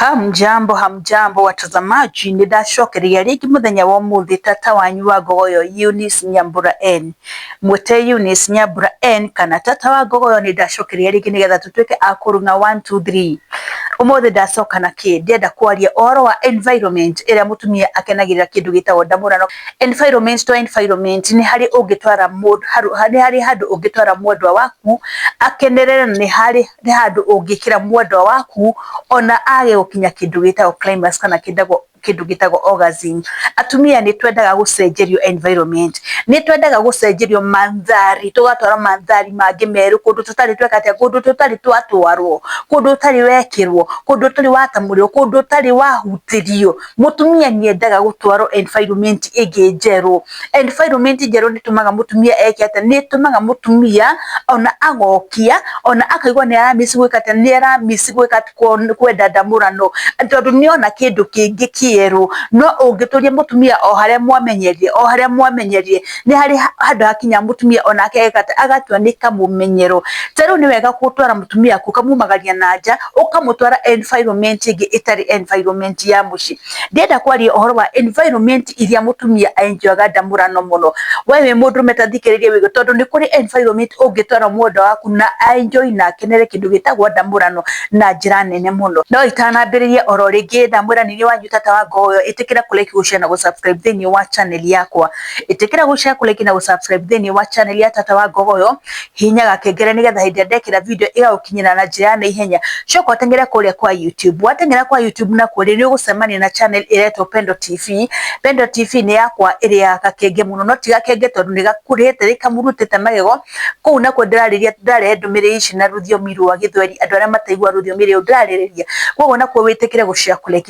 Hamjambo, hamjambo watazamaji, ni ndacokeria rĩngĩ mũthenya wa ũmũthĩ tata wanyu wa ngogoyo Eunice Nyambura N. Mwĩte Eunice Nyambura N kana tata wa ngogoyo nĩ ndacokeria rĩngĩ nĩgetha tũtuĩke a kũruna 1 2 3. Ũmũthĩ ndacoka na kĩ? Ndĩenda kwaria ũhoro wa environment ĩrĩa mũtumia akenagĩrĩra kĩndũ gĩtagwo ndamũrano. Environment to environment nĩ harĩ ũngĩtwara mũndũ, nĩ harĩ handũ ũngĩtwara mwendwa waku akenerere na nĩ harĩ Nĩ handũ ũngĩkĩra mwendwa waku ona age gũkinya kĩndũ gĩtagwo climax kana kĩndũ gĩtagwo orgasm. Atumia nĩ twendaga gũcenjerio environment, nĩ twendaga gũcenjerio mandhari, tũgatwarwo mandhari mangĩ merũ, kũndũ tũtarĩ tweka atĩa, kũndũ tũtarĩ twatwarwo, kũndũ ũtarĩ wekĩrwo, kũndũ ũtarĩ watamũrĩrwo, kũndũ ũtarĩ wahutĩrio. Mũtumia nĩ endaga gũtwarwo environment ĩngĩ njerũ. Environment njerũ nĩ ĩtũmaga mũtumia eke atĩa? Nĩ ĩtũmaga mũtumia ona agokia, ona akaigua nĩ ara miss gwĩka atĩa? Nĩ ara miss gwĩka atĩ kwenda ndamũrano, tondũ nĩ ona kĩndũ kĩngĩ kĩerũ. No ũngĩtũria mũtumia o harĩa mwamenyerire, o harĩa mwamenyerire, nĩ harĩ handũ hakinyaga mũtumia onake ageka atĩa? Agatua nĩ kamũmenyero. Ta rĩu nĩ wega gũtwara mũtumia kũu, ũkamumagaria na nja, ũkamũtwara environment ĩngĩ ĩtarĩ environment ya mũciĩ. ndĩrenda kwaria ũhoro wa environment iria mũtumia enjoyaga ndamũrano mũno we wĩ mũndũrũme ta thikĩrĩria wĩgue tondũ nĩ kũrĩ environment ũngĩtwara mwendwa waku na enjoy na akenere kĩndũ gĩtagwo ndamũrano na njĩra nene mũno no itanambĩrĩria oro rĩngĩ ndamwĩra nĩ niĩ wanyu tata wa ngoyo ĩtĩkĩra kũ like gũshare na gũ subscribe thĩinĩ wa channel yakwa ĩtĩkĩra gũ share kũ like na gũ subscribe thĩinĩ wa channel ya tata wa ngogoyo hihinya gakengere nigetha hindi ndekira video iyo ukinyira na njira na ihenya coka utengere kuria kwa YouTube watengera kwa YouTube na kuria ni ugucemania na channel iretwo Pendo TV Pendo TV ni yakwa iria gakenge muno no tiga kenge tondu ni gakurite rikamurutite magego kuu na ku ndirariria ndare ndumire ici na ruthiomi rwa githweri andu aria mataigua ruthiomi riu ndirariria koguo na ku witikire guciakurekia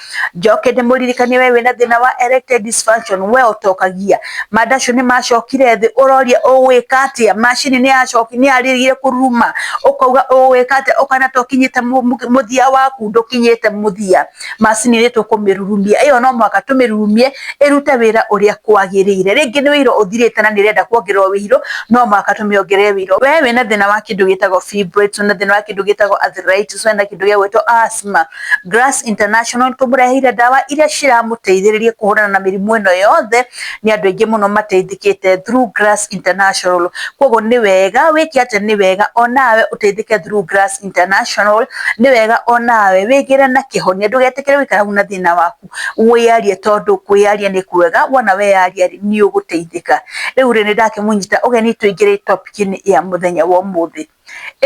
njoke ndĩmũririkanie we wĩna thĩna wa erectile dysfunction we ũtokagia manda acio nĩ macokire thĩ ũroria ũgwĩka atĩa macini nĩ yacoki nĩ yarĩrire kũruruma ũkauga ũgwĩka atĩa ũkana to kinyĩte mu- mu- mũthia waku ndũkinyĩte mũthia macini nĩ tũkũmĩrurumia ĩyo no mwaka tũmĩrurumie ĩrute wĩra ũrĩa kwagĩrĩire rĩngĩ nĩ wĩira ũthirĩte na nĩ ĩrenda kuongererwo wĩirũ no mwaka tũmĩongerere wĩirũ we wĩna thĩna wa kĩndũ gĩtagwo fibroids wĩna thĩna wa kĩndũ gĩtagwo arthritis wĩna kĩndũ gĩa gwĩtwo asthma Grass International nĩ tũmũreheire ndawa iria ciramũteithĩrĩria kũhũrana na mĩrimũ ĩno yothe. Nĩ andũ aingĩ mũno mateithĩkĩte through Grass International. Koguo nĩ wega wĩke atĩa? Nĩ wega onawe ũteithĩke through Grass International. Nĩ wega onawe wĩgĩre na kĩhonia, ndũgetĩkĩre gũikara hau na thĩna waku, wĩyarie tondũ kwĩyaria nĩ kwega, wona weyaria rĩ, nĩ ũgũteithĩka. Rĩu rĩ, nĩ ndakĩmũnyita ũgeni tũingĩre topic -inĩ ya mũthenya wa ũmũthĩ.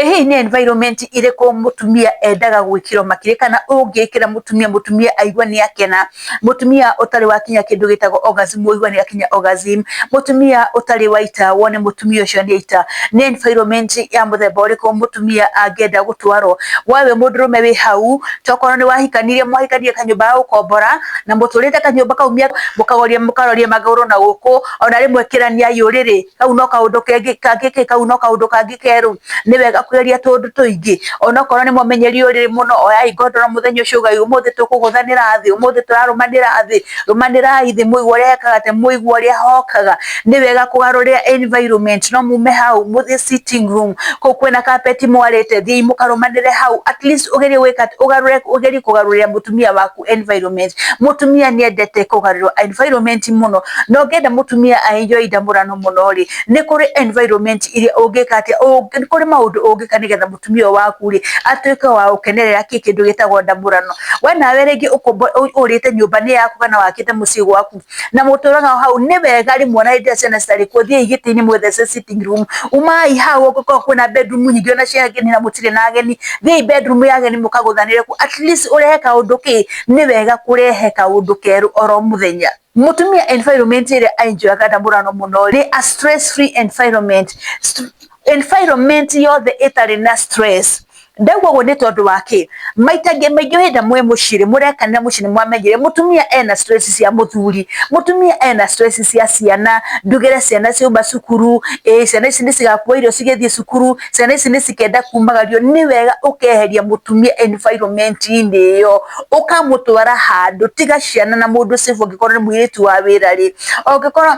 Ĩ hihi nĩ environment ĩrĩkũ mũtumia endaga gwĩkĩrwo makĩria kana ũngĩkĩra mũtumia, mũtumia aigue nĩ akena, mũtumia ũtarĩ wakinya kĩndũ gĩtagwo orgasm ũigue nĩ akinya orgasm, mũtumia ũtarĩ waita wone mũtumia ũcio nĩ aita? Nĩ environment ya mũthemba ũrĩkũ mũtumia angĩenda gũtwarwo? We wĩ mũndũrũme wĩ hau, tokorwo nĩ wahikanirie mwahikanirie kanyũmba ga gũkombora, na mũtũrĩte kanyũmba kau mũkaroria mũkaroria magũrũ na gũkũ, ona rĩmwe kĩraniai ũrĩrĩ, kau no kaundu kengi kangiki kau no kaundu kangi keru ni wega kwiria tundu tuingi onokorwo ni mumenyeri uriri muno oyai ngondoro muthenya ucio ugai umuthi tukuguthanira thi umuthi turarumanira thi rumanira ithi muigua uria ekaga te muigua uria hokaga ni wega kugarurira environment no mume hau muthi sitting room ku kwina carpet mwarite thi mukarumanire hau at least ugerie wika ugarure ugerie kugarurira mutumia waku ku environment mũtumia nĩendete kũgarũrwo environment mũno na ũngĩenda mũtumia enjoy ndamũrano mũno rĩ nĩ kũrĩ environment iria ũngĩka atĩa nĩ kũrĩ maũndũ ũngĩka nĩgetha mũtumia ũyũ waku rĩ atuĩke wa gũkenerera kĩndũ gĩtagwo ndamũrano we nawe rĩngĩ ũrĩte nyũmba nĩ yaku kana wakĩte mũciĩ gwaku na mũtũraga hau nĩ wega rĩ mwana hĩndĩ ĩrĩa ciana citarĩ kuo thiĩi gĩtĩ-inĩ mwĩthece sitting room umai hau ũngĩkorwo kwĩna bedroom nyingĩ ona cia ageni na mũtirĩ na ageni thiĩi bedroom ya ageni mũkagũthanĩre kuo at least ũrehe kaũndũ kĩ nĩ wega kũrehe kaũndũ kerũ oro mũthenya. Mũtumia environment ĩrĩa a enjoy aga na mũrano mũno nĩ a stress free environment environment yothe ĩtarĩ na stress ndauga ũguo nĩ tondũ wa kĩ maita ngĩ maingĩ hĩndĩ mwĩ mũcirĩ mũrekanĩra mũciĩ nĩ mwamenyire mũtumia ena stress cia mũthuri mũtumia ena stress cia ciana ndugĩre ciana ciauma cukuru ĩ ciana ici nĩ cigakua irio cigĩthiĩ cukuru ciana ici nĩ cikenda kumagario nĩ wega ũkeheria mũtumia environment inĩ ĩyo ũkamũtwara handũ tiga ciana na mũndũ safe ũngĩkorwo nĩ mũirĩtu wa wĩra rĩ ũngĩkorwo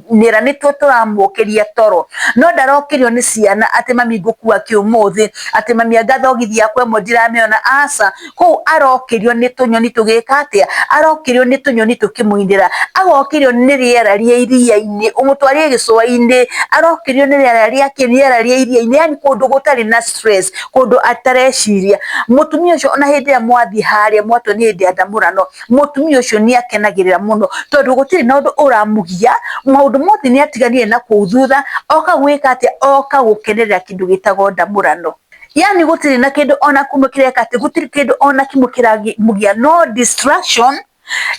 nĩra nĩ tuo tũramũkĩria toro no ndarokĩrio nĩ ciana atĩ mami ngũkua kĩ ũmũthĩ atĩ mami anga thogithi yakwa ĩmwe ndiramĩona aca kũu arokĩrio nĩ tũnyoni tũgĩka atĩa arokĩrio nĩ tũnyoni tũkĩmũinĩra agokĩrio nĩ rĩera rĩa iria-inĩ ũmũtwarie gĩcũa-inĩ arokĩrio nĩ rĩera rĩa kĩ rĩera rĩa iria-inĩ yani kũndũ gũtarĩ na stress kũndũ atareciria mũtumia ũcio ona hĩndĩ ĩrĩa mwathiĩ harĩa mwatua nĩ hĩndĩ ya ndamũrano mũtumia ũcio nĩ akenagĩrĩra mũno tondũ gũtirĩ na ũndũ ũramũgia, maũndũ mothe nĩ atiganire na kũu thutha, oka gwĩka atĩ, oka gũkenerera kĩndũ gĩtagwo ndamũrano. Yaani gũtirĩ na kĩndũ ona kĩmwe kĩreka atĩ, gũtirĩ kĩndũ ona kĩmwe kĩramũgia, no distraction,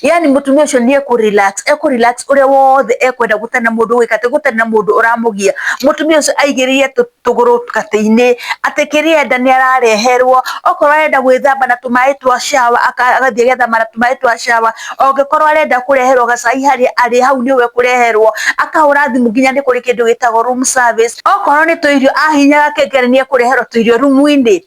yaani mũtumia ũcio nĩ ekũ relax, ekũ relax ũrĩa wothe ekwenda gũtarĩ na mũndũ ũgwĩka atĩ, gũtarĩ na mũndũ ũramũgia. Mũtumia ũcio aigĩrĩire tũ... tũgũrũ katĩ-inĩ, atĩ kĩrĩa enda nĩ arareherwo, okorwo arenda gwĩthamba na tũmaĩ twa shower agathiĩ agethamba na tũmaĩ twa shower, angĩkorwo arenda kũreherwo gacai harĩa arĩ hau nĩho ekũreherwo, akahũra thimũ nginya nĩ kũrĩ kĩndũ gĩtagwo room service, okorwo nĩ tũirio ahihinya gakengeri nĩ ekũreherwo tũirio rumu-inĩ.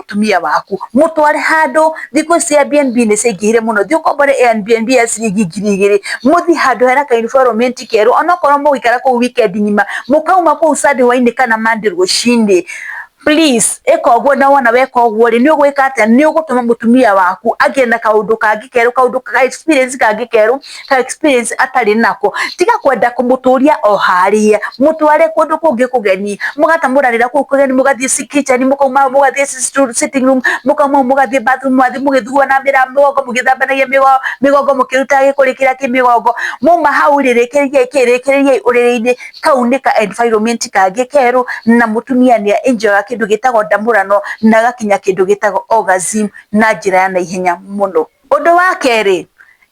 mũtumia waku mũtware handũ thikũ ici Airbnb nĩ cingĩhire mũno thiĩ ũkombore Airbnb ya ciringi ngiri igĩrĩ mũthiĩ handũ hena ka environment keru onokorwo mũgũikara kũu weekend ng'ima mũkauma kũu Sunday hwainĩ kana Monday rũcinĩ please ĩka ũguo na wona weka ũguo rĩ nĩ ũgwĩka atĩa nĩ ũgũtũma mũtumia waku agĩe na kaũndũ kangĩ kerũ kaũndũ ka experience kangĩ kerũ ka experience atarĩ nako tiga kwenda kũmũtũria o harĩa mũtware kũndũ kũngĩ kũgeni mũgatamũranĩra kũu kũgeni mũgathiĩ kitchen mũkauma mũgathiĩ sitting room mũkauma mũgathiĩ bathroom mũgathiĩ mũgĩthugua na mĩra mĩgongo mũgĩthambanagia mĩgongo mũkĩrutaga gĩkũrĩ kĩrĩa kĩ mĩgongo muma hau rĩrĩkĩrĩriai kĩrĩkĩrĩriai ũrĩrĩ-inĩ kau nĩ ka environment kangĩ kerũ na mũtumia nĩ enjoyaga kĩndũ gĩtagwo ndamũrano na agakinya kĩndũ gĩtagwo orgasm na njĩra ya naihenya mũno. Ũndũ wa kerĩ,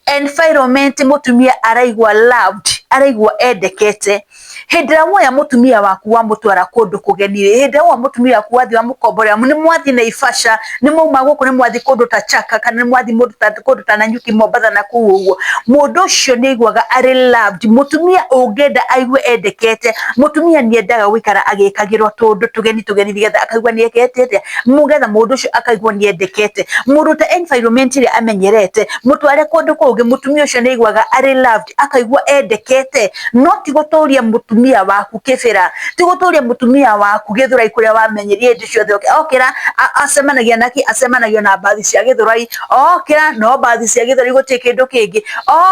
environment mũtumia araigua loved, araigua endekete. Hĩndĩ ĩrĩa woya mũtumia waku wamũtwara kũndũ kũgeni rĩ, hĩndĩ ĩrĩa woya mũtumia waku wathiĩ wamũkomborera, nĩ mwathiĩ Naivasha, nĩ mwauma gũkũ nĩ mwathiĩ kũndũ ta Chaka, kana nĩ mwathiĩ mũndũ ta kũndũ ta Nanyuki, Mombatha na kũu ũguo, mũndũ ũcio nĩ aiguaga arĩ loved. Mũtumia ũngĩenda aigue endekete, mũtumia nĩ endaga gũikara agĩkagĩrwo tũũndũ tũgeni tũgeni nĩgetha akaigua nĩ ekĩte atĩa? mugetha mundu ucio akaigwo ni endekete murute environment ria amenyerete mutware kundu kungi mutumia ucio ni aiguaga ari loved akaigua endekete no ti guturia mutumia waku kibira ti guturia mutumia waku githurai kuria wamenyerie ndi ciothe oke- okira a- acemanagia naki acemanagia na mbathi cia githurai okira no mbathi cia githurai guti kindu kingi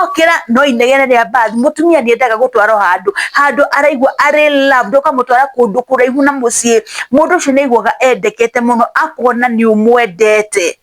okira no inegene ria mbathi mutumia ni endaga gutwarwo handu handu araigua ari loved ukamutwara kundu kuraihu na mucii mũndũ ũcio nĩ aiguaga endekete mũno akuona nĩ ũmwendete,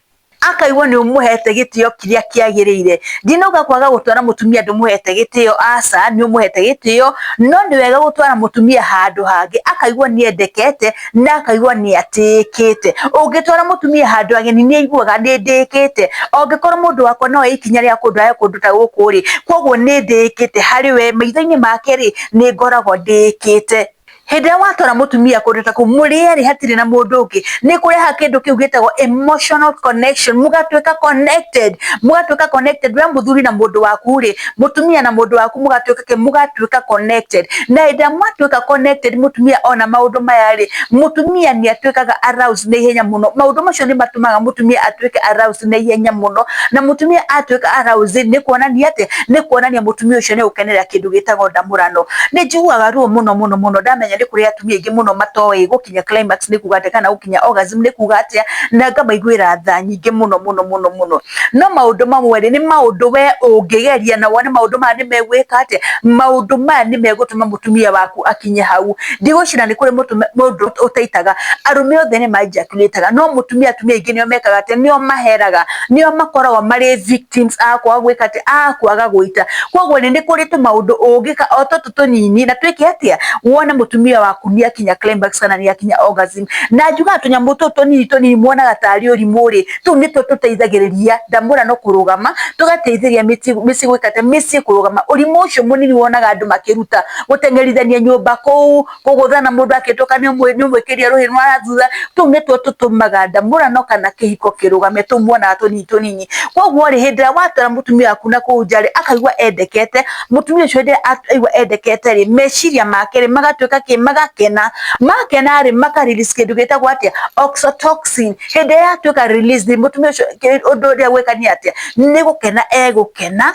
akaigua nĩ ũmũhete gĩtĩo kĩrĩa kĩagĩrĩire. Ndinauga kwaga gũtwara mũtumia ndũmũhete gĩtĩo, aca, nĩ ũmũhete gĩtĩo, no nĩ wega gũtwara mũtumia handũ hangĩ akaigua nĩ endekete na akaigua nĩ atĩĩkĩte. Ũngĩtwara mũtumia handũ ageni nĩ aiguaga nĩ ndĩĩkĩte, angĩkorwo mũndũ wakwa no oye ikinya rĩa kũndwara kũndũ ta gũkũ rĩ, kwoguo nĩ ndĩĩkĩte harĩ we, maitho-inĩ make rĩ, nĩ ngoragwo ndĩĩkĩte. hĩndĩ ĩrĩa watwara mũtumia kũndũ ta kũu mũrĩ erĩ hatirĩ na mũndũ ũngĩ nĩ kũreha kĩndũ kĩu gĩtagwo emotional connection mũgatuĩka connected mũgatuĩka connected we mũthuri na mũndũ waku rĩ mũtumia na mũndũ waku mũgatuĩka kĩ mũgatuĩka connected na hĩndĩ ĩrĩa mwatuĩka connected mũtumia ona maũndũ maya rĩ mũtumia nĩ atuĩkaga aroused na ihenya mũno maũndũ macio nĩ matũmaga mũtumia atuĩke aroused na ihenya mũno na mũtumia atuĩka aroused nĩ kuonania atĩ nĩ kuonania mũtumia ũcio nĩ ũkenera kĩndũ gĩtagwo ndamũrano. Nĩ njiguaga ruo mũno mũno mũno ndamenya nĩ kũrĩ atumia aingĩ mũno matoĩ gũkinya climax nĩ kuuga atĩa kana gũkinya orgasm nĩ kuuga atĩa na ngamaiguĩra tha nyingĩ mũno mũno mũno mũno. No maũndũ mamwe rĩ nĩ maũndũ we ũngĩgeria na wone maũndũ maya nĩ megwĩka atĩa, maũndũ maya nĩ megũtũma mũtumia waku akinye hau. Ndigwĩciria nĩ kũrĩ mũndũ ũtaitaga, arũme othe nĩ ma ejaculate aga no mũtumia atumia aingĩ nĩo mekaga atĩa, nĩo maheraga. nio makoragwo marĩ victims a kwaga gwĩka atĩ a kwaga gũita koguo nĩ kũrĩ tũmaũndũ ũngĩka o tũtũ tũnini na twĩke atĩa wone mũtumia waku nĩ akinya climax kana nĩ akinya orgasm na njugaga tũnyamũ tũtũ tũnini tũnini mwonaga tarĩ ũrimũ rĩ tũu nĩtuo tũteithagĩrĩria ndamũra no kũrũgama tũgateithĩrĩria mĩciĩ gwĩka atĩa mĩciĩ kũrũgama ũrimũ ũcio mũnini wonaga andũ makĩruta gũtengerithania nyũmba kũu kũgũtha na mũndũ akĩtoka nĩ ũmwe nĩ ũmwe kĩria rũhĩ rwa thutha tũu nĩtuo tũtũmaga ndamũrano kana kĩhiko kĩrũgame tũu muonaga tũnini tũnini koguo rĩ hĩndĩ ĩrĩa watwara mũtumia waku na kũu nja rĩ akaigua endekete mũtumia ũcio hĩndĩ ĩrĩa aigua endekete rĩ meciria make rĩ magatuĩka kĩ magakena makena rĩ maka release kĩndũ gĩtagwo atĩa oxytocin hĩndĩ ĩrĩa yatuĩka release rĩ mũtumia ũcio kĩ- ũndũ ũrĩa gwĩka nĩ atĩa nĩ gũkena egũkena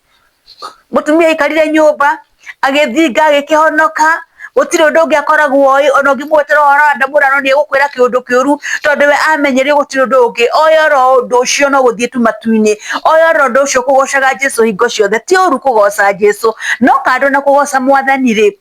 mũtumia aikarire nyũmba agĩthinga agĩkĩhonoka gũtirĩ ũndũ ũngĩ akoragwo oĩ ona ũngĩmwetera ũhoro wa ndamũrano nĩ egũkwĩra kĩũndũ kĩũru tondũ we amenyerio gũtirĩ ũndũ ũngĩ oĩ oro ũndũ ũcio no gũthiĩ tu matu-inĩ oĩ oro ũndũ ũcio kũgocaga Jesũ hingo ciothe ti ũru kũgoca Jesũ no kando na kũgoca mwathani rĩ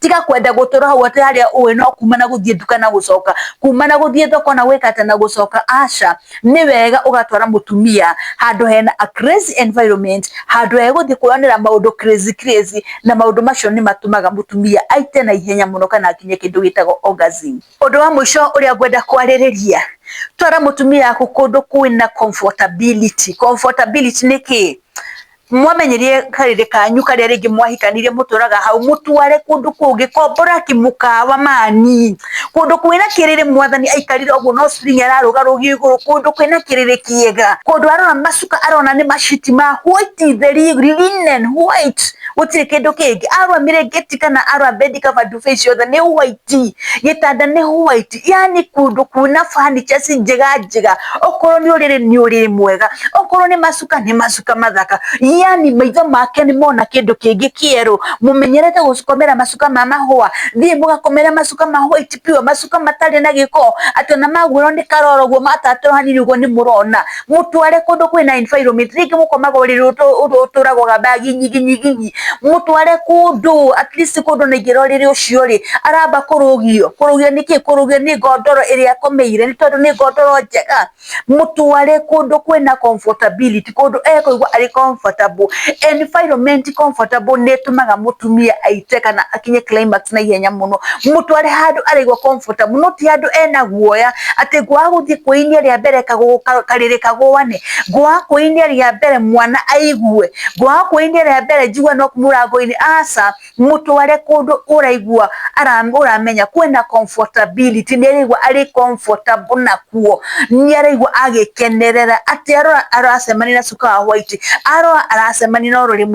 tiga kwenda gũtũra hau atĩ harĩa ũĩ no kuma na gũthiĩ nduka na gũcoka kuma na gũthiĩ thoko na gwĩka atĩ na gũcoka aca nĩ wega ũgatwara mũtumia handũ hena a crazy environment handũ he gũthiĩ kwonera maũndũ crazy crazy na maũndũ macio nĩ matũmaga mũtumia aite na ihenya mũno kana akinye kĩndũ gĩtagwo orgasm ũndũ wa mũico ũrĩa ngwenda kwarĩrĩria twara mũtumia waku kũndũ kwĩna comfortability comfortability nĩ kĩĩ Mwamenyirie karĩrĩ kanyu karĩa rĩngĩ mwahikanirie mũtũraga hau, mũtware kũndũ kũngĩ, kombora ki mũkawa mani, kũndũ kwĩna kĩrĩrĩ mwathani aikarire ũguo no ceiling ararũga rũgio igũrũ, kũndũ kwĩna kĩrĩrĩ kĩega, kũndũ arora macuka arona nĩ maciti ma white theri, linen white gũtirĩ kĩndũ kĩngĩ, arora mĩrĩngĩti kana arora bed cover nduve icio ciothe nĩ white, gĩtanda nĩ white, yani kũndũ kwĩna furnitures njega njega, okorwo nĩ ũrĩrĩ nĩ ũrĩrĩ mwega, okorwo nĩ macuka. macuka nĩ macuka mathaka yani maitho make nĩ mona kĩndũ kĩngĩ kĩerũ mũmenyerete gũcikomera macuka ma mahũa thiĩ mũgakomere macuka ma white pure macuka matarĩ na gĩko atĩ ona maguũrwo nĩ karoro guo matatũra hanini ũguo nĩ mũrona mũtware kũndũ kwĩna environment rĩngĩ mũkomaga ũrĩrĩ ũtũ- ũtũ- ũtũragwaga mbagi nyingi nyingi nyingi mũtware kũndũ at least kũndũ na ingĩra ũrĩrĩ ũcio rĩ aramba kũrũgio kũrũgio nĩ kĩ kũrũgio nĩ ngondoro ĩrĩa akomeire nĩ tondũ nĩ ngondoro njega mũtware kũndũ kwĩna comfortability, kũndũ ekũigua arĩ comfortable. Environment comfortable nĩ ĩtũmaga mũtumia aite kana akinye climax na ihenya mũno. Mũtware handũ arĩigua comfortable no ti handũ ena guoya atĩ ngwaga gũthiĩ kwĩ-inĩ rĩa mbere karĩrĩ kagũa nĩ, ngwaga kwĩ-inĩ rĩa mbere mwana aigue, ngwaga kwĩ-inĩ rĩa mbere njigue knock mũrango-inĩ, aca. mũtware kũndũ ũraigua ũramenya kwĩna comfortability nĩ araigua arĩ comfortable nakuo, nĩ araigua agĩkenerera atĩ arora aracemania na cuka wa white, arora aracemania na ũrĩrĩ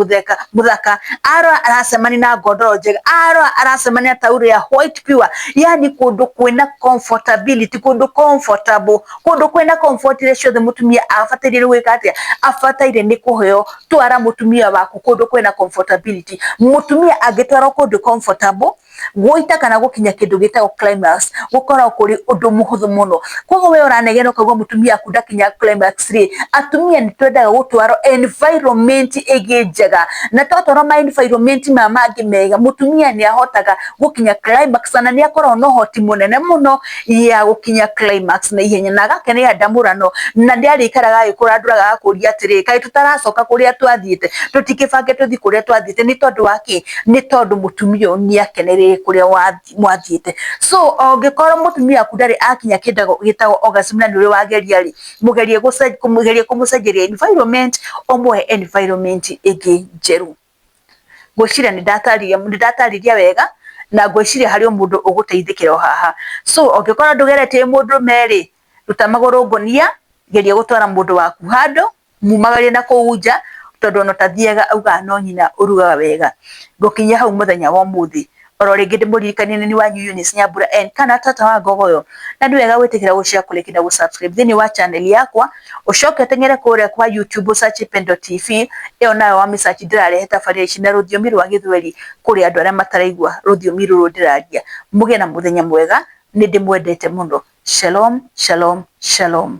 mũthaka, arora aracemania na ngondoro njega, arora aracemania na taurũ ya white pure, yaani kũndũ kwĩna comfortability, kũndũ comfortable, kũndũ kwĩna comfort ciothe mũtumia abataire nĩ gwĩka atĩa? Abataire nĩ kũheo twara mutumia waku kundu kwina comfortability mutumia angitwarwo kundu comfortable guita kana gukinya kindu gitagwo climax gukorwo kuri undu muhuthu muno koguo we uranegena ukaigua mutumia waku ndakinya climax ri atumia ni twendaga gutwarwo environment igi njega na twatwarwo ma environment ma mangi mega mutumia ni ahotaga gukinya climax na ni akoragwo na uhoti munene muno ya gũkinya climax na ihenya na agakena ya ndamũrano na ndarĩikaraga agĩkũra andũraga agakũria atĩrĩ kaĩ tũtaracoka kũrĩa twathiĩte tũtikĩbange tũthiĩ kũrĩa twathiĩte nĩ tondũ wa kĩ nĩ tondũ mũtumia ũyũ nĩ akeneire kũrĩa mwathiĩte so ũngĩkorwo mũtumia waku ndarĩ akinya kĩndũ gĩtagwo orgasm na nĩ ũrĩ wageria rĩ mũgerie kũmũcenjeria environment ũmũhe environment ĩngĩ njerũ. Ngwĩciria nĩ ndatarĩria wega, na ngwĩciria harĩ o mũndũ ũgũteithĩkĩra o haha. So ũngĩkora ndũgeretie wĩ mũndũrũme rĩ, ruta magũrũ ngũnia, geria gũtwara mũndũ waku handũ, mumagare na kũu nja, tondũ ona ũtathiaga augaga no nyina ũrugaga wega. Ngũkinyia hau mũthenya wa ũmũthĩ. oro rĩngĩ ndĩmũririkanie nĩ wanyu Eunice Nyambura N kana tata wa ngogoyo na nĩ wega gwĩtĩkĩra gũshare kũrĩki na gũsubscribe thĩinĩ wa channel yakwa ũcoke ũteng'ere kũrĩa kwa YouTube ũsachi Pendo TV ĩyo nayo wa mĩsachi ndĩrarehe tabarĩra ici na rũthiomi rwa gĩthweri kũrĩ andũ arĩa mataraigua rũthiomi rũrũ ndĩraria mũgĩe na mũthenya mwega nĩ ndĩmwendete mũno shalom shalom shalom